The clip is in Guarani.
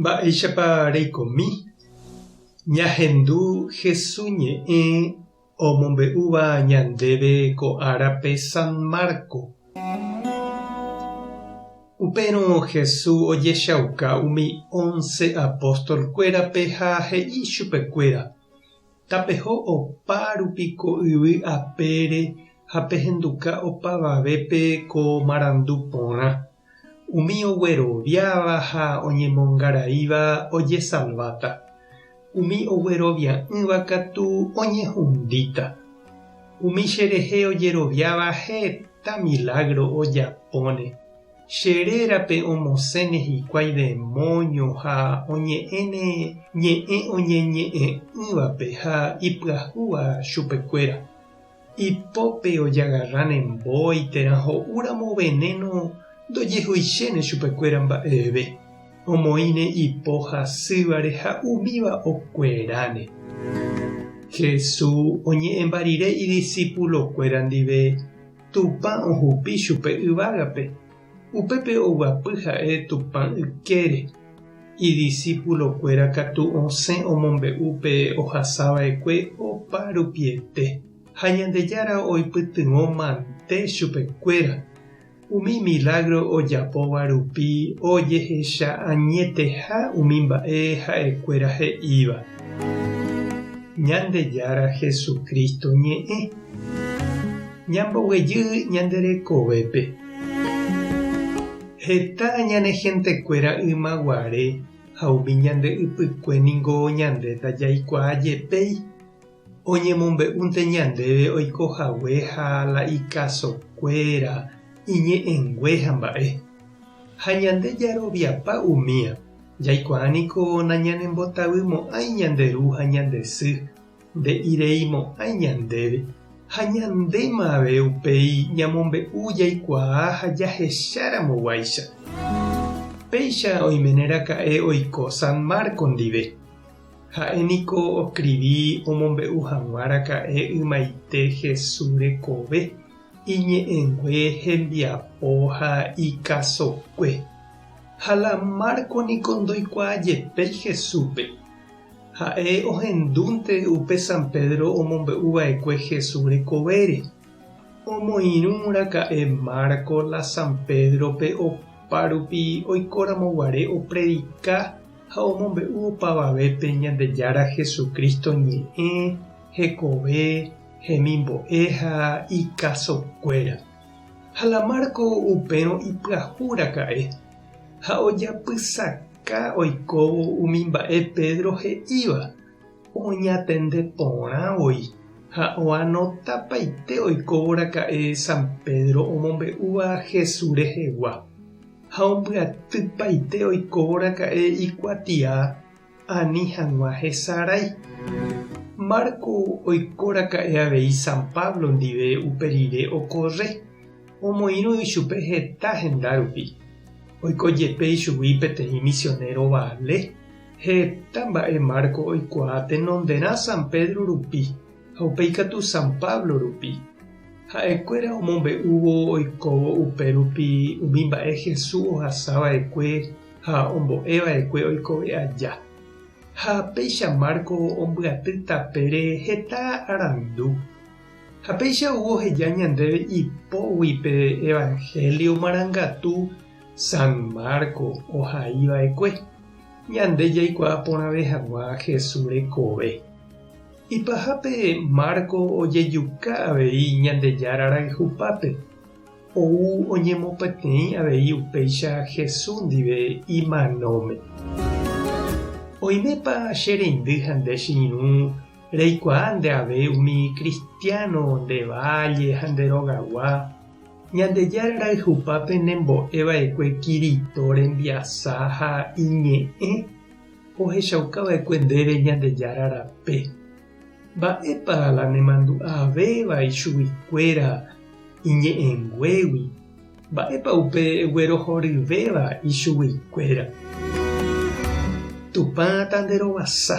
Mba'éichapa reikomi ñahendu Jesús ñe'ẽ omombe'úva ñandéve ko árape San Marco? Upérõ Jesús ojechauka umi ónce apóstolkuérape ha he'i chupekuéra, Tapeho opa rupi ko yvy apére ha pehenduka opavavépe ko marandu porã. Umi ogueroviáva ha oñemongaraíva ojesalváta, umi oguerovia'ỹva katu oñehundíta. Umi cherehe ojeroviáva heta milágro ojapóne, che rérape omosẽne hikuái demóño ha oñe'ẽne ñe'ẽ oñeñe'ẽ'ỹvape ha ipyahúva chupekuéra. Ipópe ojagarra ne mbói térã ho'úramo venéno ndojehuichéne chupekuéra mba'eve, omoĩne ipo hasývare ha umíva okueráne. Jesús oñe'ẽmba rire idisipulokuéra ndive Tupã ohupi chupe yvágape. Upépe oguapy ha'e Tupã ykére. Idisipulokuéra katu osẽ omombe'u pe ohasava'ekue opa rupiete, ha Ñandejára oipytyvõ mante chupekuéra, umi milágro ojapóva rupi ojehecha añeteha umi mba'e ha'ekuéra he'íva. Ñandejára Jesucristo ñe'ẽ. Ñamboguejy ñande rekovépe. Heta ñane hentekuéra yma guare ha umi ñande ypykue ningo ñande ndajaikuaa jepéi, oñemombe'únte ñandéve oiko hague ha la ikasokuéra, iñe'ẽngue ha mba'e. Ha ñande jaroviapa umía, jaikuaa niko nañanembotavymo'ãi ñande ru ha ñande sy, nde'ireimo'ãi ñandéve, ha ñandéma avei upéi ñamombe'u jaikuaa ha jahecharamoguáicha. Péicha oimeneraka'e oiko San Marco ndive. Ha'e niko oskrivi omombe'u hag̃ua raka'e ymaite Hesu rekove, iñe'ẽngue hembiapo ha ikasokue. Ha la Marco niko ndoikuaajepéi Hesúpe. Ha'e ohendúnte upe San Pedro omombe'u va'ekue Jesús rekovére. Omoirũ raka'e Marco la San Pedro-pe opárupi oikóramo guare opredika ha omombe'u opavavépe Ñandejára Jesucristo ñe'ẽ, hekove, hemimbo'e ha ikasokuéra. Ha la Marco upérõ ipyahu raka'e ha ojapysaka. Ha oikóvo umi mba'e Pedro he'íva, oñatende porã voi ha oanotapaite oikóvoraka'e San Pedro omombe'úva Jesús rehegua, ha ombyatypaite oikóvoraka'e ikuatia ani hag̃ua hesarái. Marco oikóraka'e avei San Pablo ndive upe rire okorre. Omoirũ ichupe heta henda rupi. Oiko jepe ichugui peteĩ misionero vale, heta mba'e Marco oikuaa tenonderã San Pedro rupi ha upe ikatu San Pablo rupi. Ha'ekuéra omombe'úvo oikóvo upérupi umi mba'e Jesús ohasa va'ekue ha ombo'e va'ekue oikove aja. Ha péicha Marco ombyaty tapére heta arandu. Ha péicha ou oheja ñandéve ipógui pe Evanhélio marangatu San Marco ohai va'ekue, ñande jaikuaa porãve hag̃ua Jesús rekove. Ipahápe Marco ojejuka avei Ñandejára rayhupápe, ou oñemopeteĩ avei upéicha Jesús ndive imanóme. Oimépa che reindy ha nde che irũ Reikuaa nde ave umi kristiáno nde válle ha nde rogagua, Ñandejára rayhupápe nembo'e va'ekue Kirito rembiasa ha Iñe'ẽ ohechauka va'ekue ndéve Ñandejára rape. Mba'épa la nemandu'a avéva ichuguikuéra Iñe'ẽnguégui? Mba'épa upe guerohoryvéva ichuguikuéra? Tupã tanderovasa.